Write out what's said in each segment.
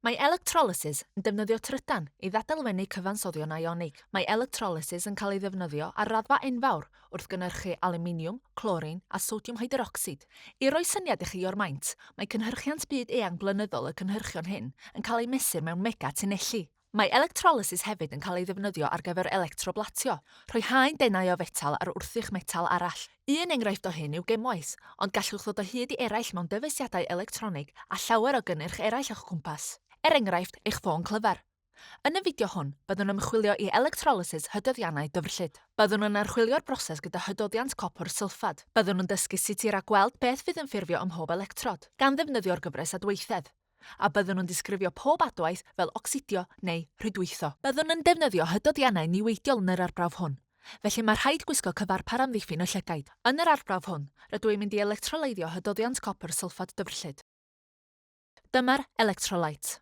Mae electrolysis yn defnyddio trydan i ddadalfennu cyfansoddion ionig. Mae electrolysis yn cael ei ddefnyddio ar raddfa enfawr wrth gynhyrchu alwminiwm, clorin a sodiwm hyderocsid. I roi syniad i chi o'r maint, mae cynhyrchiant byd eang blynyddol y cynhyrchion hyn yn cael ei mesur mewn mega tunnelli. Mae electrolysis hefyd yn cael ei ddefnyddio ar gyfer electroblatio, rhoi haen denau o fetal ar wrthrych metal arall. Un enghraifft o hyn yw gemwaith, ond gallwch ddod o hyd i eraill mewn dyfeisiadau electronig a llawer o gynnyrch eraill o'ch cwmpas, er enghraifft, eich ffôn clyfar. Yn y fideo hwn, byddwn ymchwilio i electrolysis hydoddiannau dyfrllyd. Byddwn yn archwilio'r broses gyda hydoddiant copr sylffad. Byddwn yn dysgu sut i ragweld beth fydd yn ffurfio ym mhob electrod, gan ddefnyddio'r gyfres adweithedd. a byddwn yn disgrifio pob adwaith fel ocsidio neu rhwydweithio. Byddwn yn defnyddio hydoddiannau niweidiol yn yr arbrawf hwn, felly mae rhaid gwisgo cyfarpar amddiffyn y llygaid. Yn yr arbrawf hwn, rydw i'n mynd i electroleiddio hydoddiant copr sylffad dyfrllyd. Dyma'r electrolyte.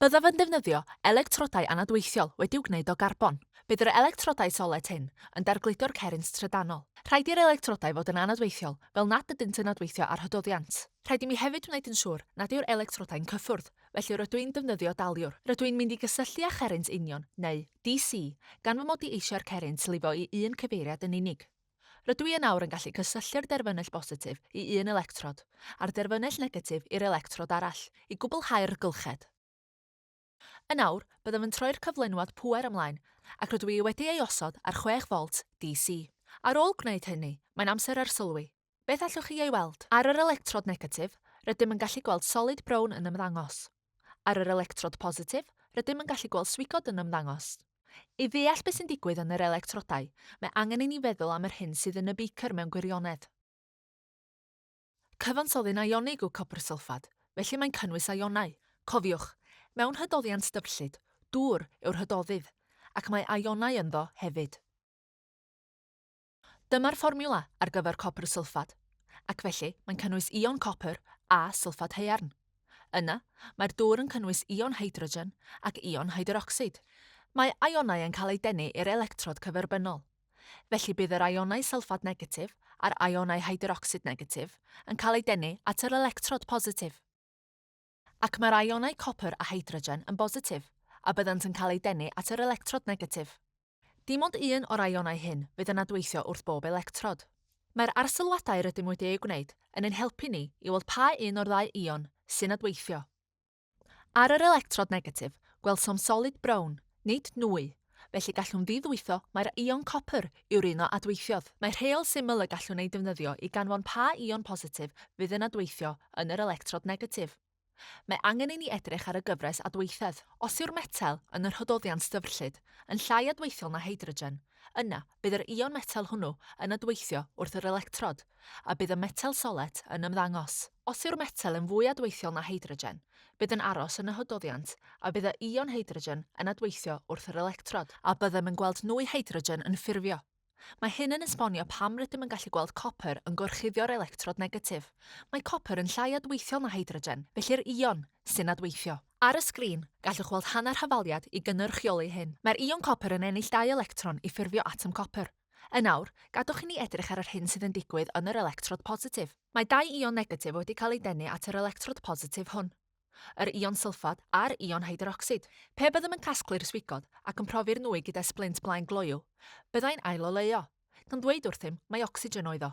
Byddaf yn defnyddio electrodau anadweithiol wedi'u gwneud o garbon. Bydd yr electrodau solet hyn yn dargludo'r cerrynt trydanol. Rhaid i'r electrodau fod yn anadweithiol fel nad ydynt yn adweithio ar hydoddiant. Rhaid i mi hefyd wneud yn siŵr nad yw'r electrodau'n cyffwrdd, felly rydw i'n defnyddio daliwr. Rydw i'n mynd i gysylltu â cherrynt union, neu DC, gan fy mod i eisiau'r cerrynt lifo i un cyfeiriad yn unig. Rydw i yn awr yn gallu cysylltu'r derfynnell bositif i un electrod, a'r derfynnell negatif i'r electrod arall, i gwblhau'r rhgylched. Yn awr, byddaf yn troi'r cyflenwad pŵer ymlaen, ac rydw i wedi ei osod ar 6 volt DC. Ar ôl gwneud hynny, mae'n amser arsylwi. Beth allwch chi ei weld? Ar yr electrod negatif, rydym yn gallu gweld solid brown yn ymddangos. Ar yr electrod positif, rydym yn gallu gweld swigod yn ymddangos. I ddeall beth sy'n digwydd yn yr electrodau, mae angen i ni feddwl am yr hyn sydd yn y beicr mewn gwirionedd. Cyfansoddyn ionig yw copr sylffad, felly mae'n cynnwys ionau. Cofiwch, mewn hydoddiant dyfrllyd, dŵr yw'r hydoddydd, ac mae ionau ynddo hefyd. Dyma'r fformiwla ar gyfer copr sylffad, ac felly mae'n cynnwys ion copr a sylffad haearn. Yna, mae'r dŵr yn cynnwys ion hydrogen ac ion hydrocsid. Mae ionau yn cael eu denu i'r electrod cyferbynnol. Felly bydd yr ionau sylffad negatif a'r ionau hydrocsid negatif yn cael eu denu at yr electrod positif. ac mae'r ionau copr a hydrogen yn bositif, a byddant yn cael eu denu at yr electrod negatif. Dim ond un o'r ionau hyn fydd yn adweithio wrth bob electrod. Mae'r arsylwadau rydym wedi eu gwneud yn ein helpu ni i weld pa un o'r ddau ion sy'n adweithio. Ar yr electrod negatif, gwelsom solid brown, nid nwy, felly gallwn ddi-ddwytho mai'r ion copr yw'r un o adweithiodd. Mae rheol syml y gallwn ei defnyddio i ganfon pa ion positif fydd yn adweithio yn yr electrod negatif. Mae angen i ni edrych ar y gyfres adweithedd. Os yw'r metel, yn y rhododdiant dyfrllyd, yn llai adweithiol na hydrogen, yna bydd yr ion metel hwnnw yn adweithio wrth yr electrod, a bydd y metel solet yn ymddangos. Os yw'r metel yn fwy adweithiol na hydrogen, bydd yn aros yn y hydoddiant a bydd y ion hydrogen yn adweithio wrth yr electrod, a byddem yn gweld nwy hydrogen yn ffurfio. Mae hyn yn esbonio pam rydym yn gallu gweld copr yn gorchuddio'r electrod negatif. Mae copr yn llai adweithiol na hydrogen, felly'r ion sy'n adweithio. Ar y sgrin, gallwch weld hanner hafaliad i gynyrchioli hyn. Mae'r ion copr yn ennill dau electron i ffurfio atom copr. Yn awr, gadwch i ni edrych ar yr hyn sydd yn digwydd yn yr electrod positif. Mae dau ion negatif wedi cael eu denu at yr electrod positif hwn. Yr ion sylffad a'r ion hydrocsid. Pe byddem yn casglu'r swigod ac yn profi'r nwy gyda sblint blaen gloyw, byddai'n ail-oleuo. Gan ddweud wrthym, mai ocsigen oedd o.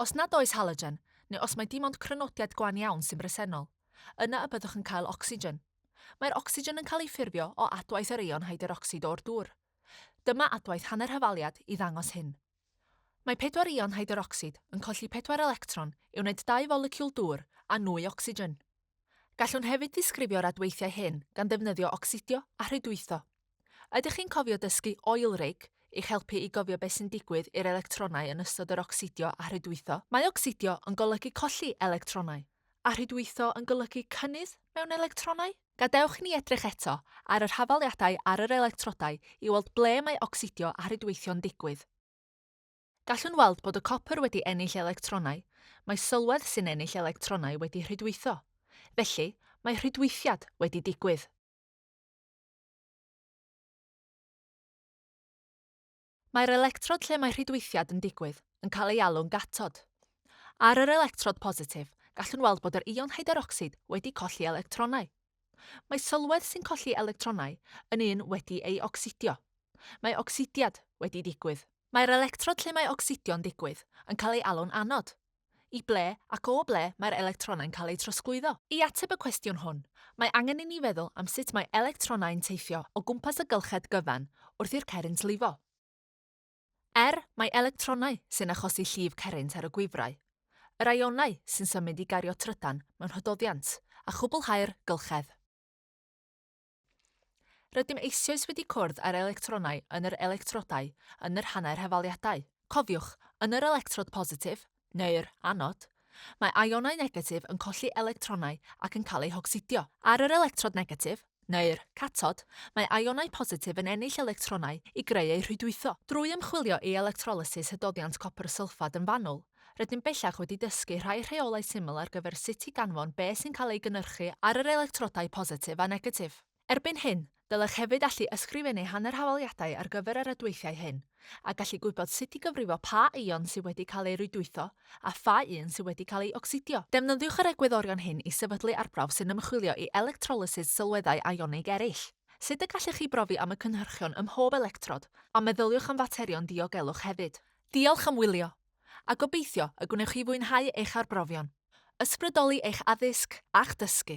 Os nad oes halogen, neu os mae dim ond crynodiad gwan iawn sy'n bresennol, yna y byddwch yn cael ocsigen. Mae'r ocsigen yn cael ei ffurfio o adwaith yr eion hyderocsid o'r dŵr. Dyma adwaith hanner hyfaliad i ddangos hyn. Mae pedwar eion hyderocsid yn colli pedwar electron i wneud dau folecwl dŵr a nwy ocsigen. Gallwn hefyd ddisgrifio'r adweithiau hyn gan ddefnyddio ocsidio a rhwydweithio. Ydych chi'n cofio dysgu oil rig i'ch helpu i gofio beth sy'n digwydd i'r electronau yn ystod yr ocsidio a rhwydweithio? Mae ocsidio yn golygu colli electronau, a rhwydweithio yn golygu cynnydd mewn electronau. Gadewch i ni edrych eto ar yr hafaliadau ar yr electrodau i weld ble mae ocsidio a rhwydweithio'n digwydd. Gallwn weld bod y copr wedi ennill electronau, mae sylwedd sy'n ennill electronau wedi rhydweithio. Felly, mae rhydweithiad wedi digwydd. Mae'r electrod lle mae rhydweithiad yn digwydd yn cael ei alw'n gatod. Ar yr electrod positif, gallwn weld bod yr ion hyderocsid wedi colli electronau. Mae sylwedd sy'n colli electronau yn un wedi ei ocsidio. Mae ocsidiad wedi digwydd. Mae'r electrod lle mae ocsidio'n digwydd yn cael ei alw'n anod. I ble ac o ble mae'r electronau'n cael eu trosglwyddo? I ateb y cwestiwn hwn, mae angen i ni feddwl am sut mae electronau'n teithio o gwmpas y gylched gyfan wrth i'r cerrynt lifo. Er mai electronau sy'n achosi llif cerrynt ar y gwifrau, yr aionau sy'n symud i gario trydan mewn hydoddiant a chwblhau'r gylchedd. Rydym eisioes wedi cwrdd â'r electronau yn yr electrodau yn yr hanner hafaliadau. Cofiwch, yn yr electrod positif, neu'r anod, mae ionau negatif yn colli electronau ac yn cael eu hocsidio. Ar yr electrod negatif, neu'r catod, mae ionau positif yn ennill electronau i greu eu rhwydweithio. Drwy ymchwilio i electrolysis hydoddiant copr sylffad yn fanwl, Rydym bellach wedi dysgu rhai rheolau syml ar gyfer sut i ganfon beth sy'n cael ei gynhyrchu ar yr electrodau positif a negatif. Erbyn hyn, dylech hefyd allu ysgrifennu hanner hafaliadau ar gyfer y rhwydweithiau hyn, a gallu gwybod sut i gyfrifo pa eion sydd wedi cael eu rhwydweithio a pha un sydd wedi cael ei ocsidio. Defnyddiwch yr egwyddorion hyn i sefydlu arbrawf sy'n ymchwilio i electrolysis sylweddau ionig eraill. Sut y gallech chi brofi am y cynhyrchion ym mhob electrod, a meddyliwch am faterion diogelwch hefyd. Diolch am wylio, a gobeithio y gwnewch chi fwynhau eich arbrofion, ysbrydoli eich addysg a'ch dysgu!